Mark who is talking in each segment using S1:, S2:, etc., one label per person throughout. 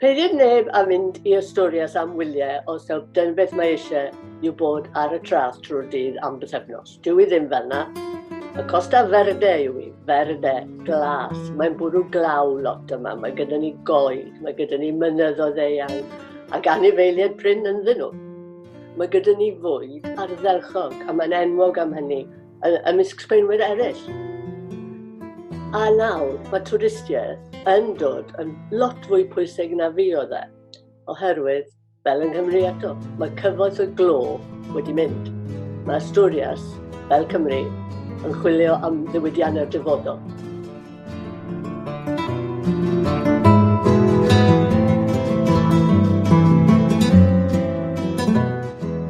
S1: Peidiwch neb a mynd i ystorias am wyliau os taw dyn beth mae eisiau yw bod ar y tras trwy'r dydd am bythefnos. Dwi i ddim fel na. Y Costa Verde yw i, Verde, glas. Mae'n bwrw glaw lot yma, mae gyda ni goed, mae gyda ni mynyddoedd eang, ac anifeiliaid prin ynddyn nhw. Mae gyda ni fwyd arddelchog, a mae'n enwog am hynny, ymysg Sbaenwyr eraill. A nawr, mae twristiaeth yn dod yn lot fwy pwysig na fi oedd e, oherwydd, fel yng Nghymru eto, mae cyfoeth y glo wedi mynd. Mae Asturias, fel Cymru, yn chwilio am ddiwydiannau'r dyfodol.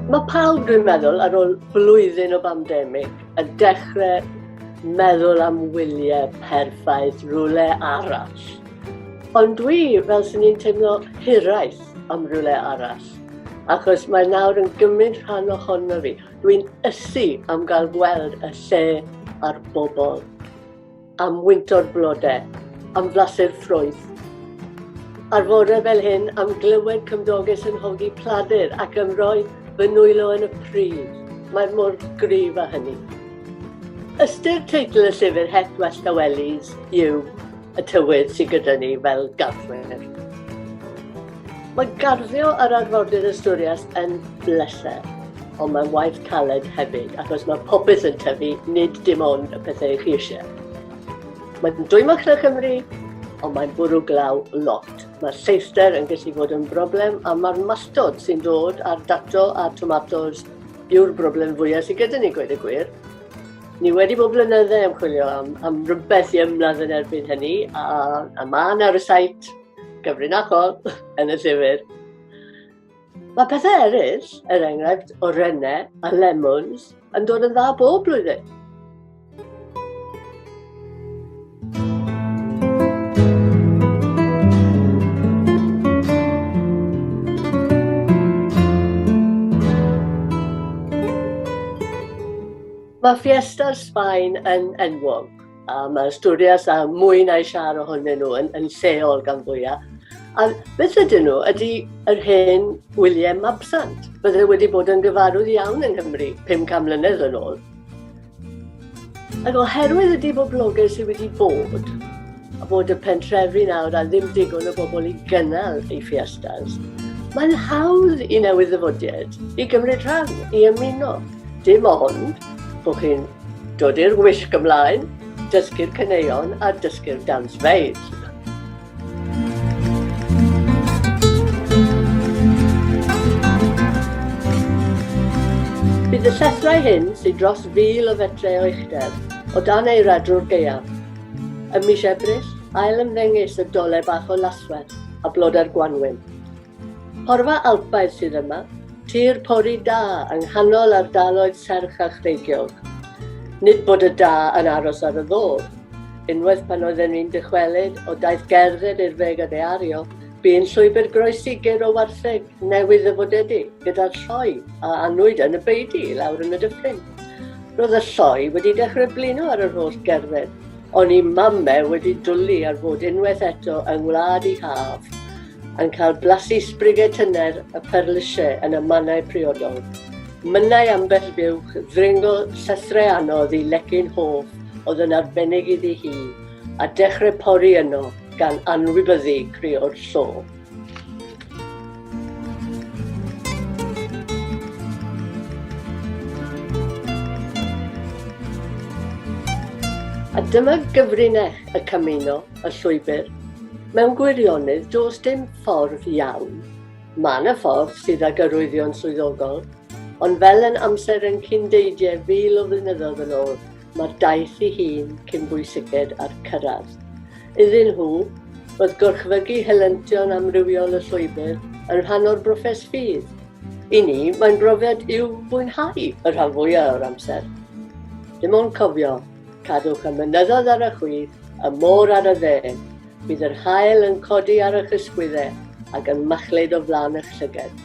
S1: Mae pawb, dwi'n meddwl, ar ôl blwyddyn o bandemig, yn dechrau meddwl am wyliau perffaith rhywle arall. Ond dwi, fel sy'n ni'n teimlo hiraeth am rhywle arall, achos mae nawr yn gymryd rhan ohono fi. Dwi'n ysu am gael gweld y lle a'r bobl. am wynto'r blodau, am flasu'r ffrwyth. Ar fore fel hyn, am glywed cymdoges yn hogi pladur ac am roi fy nwylo yn y pryd. Mae'r mor gryf â hynny. Ystyr teitl y llyfr Het Westawellies yw y tywydd sydd gyda ni fel garthwyr. Mae garddio yr arfordir Asturias yn bleser ond mae'n waith caled hefyd, achos mae popeth yn tyfu, nid dim ond y pethau chi eisiau. Mae'n dwymoch na Cymru, ond mae'n bwrw glaw lot. Mae'r lleithder yn gallu bod yn broblem, a mae'r malltod sy'n dod ar dato a tomatos yw'r broblem fwyaf sydd gyda ni, gweud y gwir. Ni wedi bod blynyddau yn chwilio am, am rhywbeth i ymladd yn erbyn hynny, a, a mae yna ar y sait gyfrinachol yn y llyfr. Mae pethau eraill, er enghraifft o renne a lemons, yn dod yn dda bob blwyddyn. Mae Fiesta'r Sbaen yn enwog A mae studios a mwy na eisiau ohonyn nhw yn, yn lleol gan fwyaf. A beth ydyn nhw? Ydy yr hen William Mabsant. Bydde wedi bod yn gyfarwydd iawn yng Nghymru 500 mlynedd yn ôl. Ac oherwydd y diboblogaeth sydd wedi bod, a bod y pentrefi nawr a ddim digon o bobl i gynnal ei fiestas, mae'n hawdd i newydd ddyfodiaid i gymryd rhan, i ymuno. Dim ond bod chi'n dod i'r wisg ymlaen, dysgu'r caneuon a dysgu'r dance maids. Bydd y llethrau hyn sy'n dros fil o fetre o uchder o dan ei radrwr geiaf. Ym mis Ebrill, ail ymddengys y dole bach o laswell a blodau'r gwanwyn. Porfa Alpaidd sydd yma, tir pori da yng nghanol ardaloedd serch a chreigiog. Nid bod y da yn aros ar y ddodd. Unwaith pan oedden ni'n dychwelyd o daith gerdded i'r Feg a Deario, bu'n llwybr groesi gur o wartheg newydd ddyfodedig, gyda'r lloi a anwyd yn y beudy i lawr yn y dyffryn. Roedd y lloi wedi dechrau blino ar yr holl gerdded, ond i Mame wedi dwli ar fod unwaith eto yng ngwlad 'i haf. yn cael blasu sbrigau tyner y perlysiau yn y mannau priodol. Mynnai ambell fuwch ddringo llythrau anodd i lecyn hoff oedd yn arbennig iddi hi, a dechrau pori yno gan anwybyddu creo'r llo. A dyma gyfrinach y camino y llwybr. Mewn gwirionedd, does dim ffordd iawn. Mae yna ffordd sydd ag arwyddion swyddogol, ond fel yn amser yn cyn deidiau fil o flynyddoedd yn ôl, mae'r daith i hun cyn bwysiced a'r cyrraedd. Iddyn nhw, roedd gorchfygu helyntion amrywiol y llwybr yn rhan o'r broses ffydd. I ni, mae'n brofiad i'w fwynhau y rhan fwyaf o'r amser. Dim ond cofio, Cadwch y mynyddoedd ar y chwith, y môr ar y dde. Bydd yr haul yn codi ar eich ysgwyddau ac yn machlud o flaen eich llyged.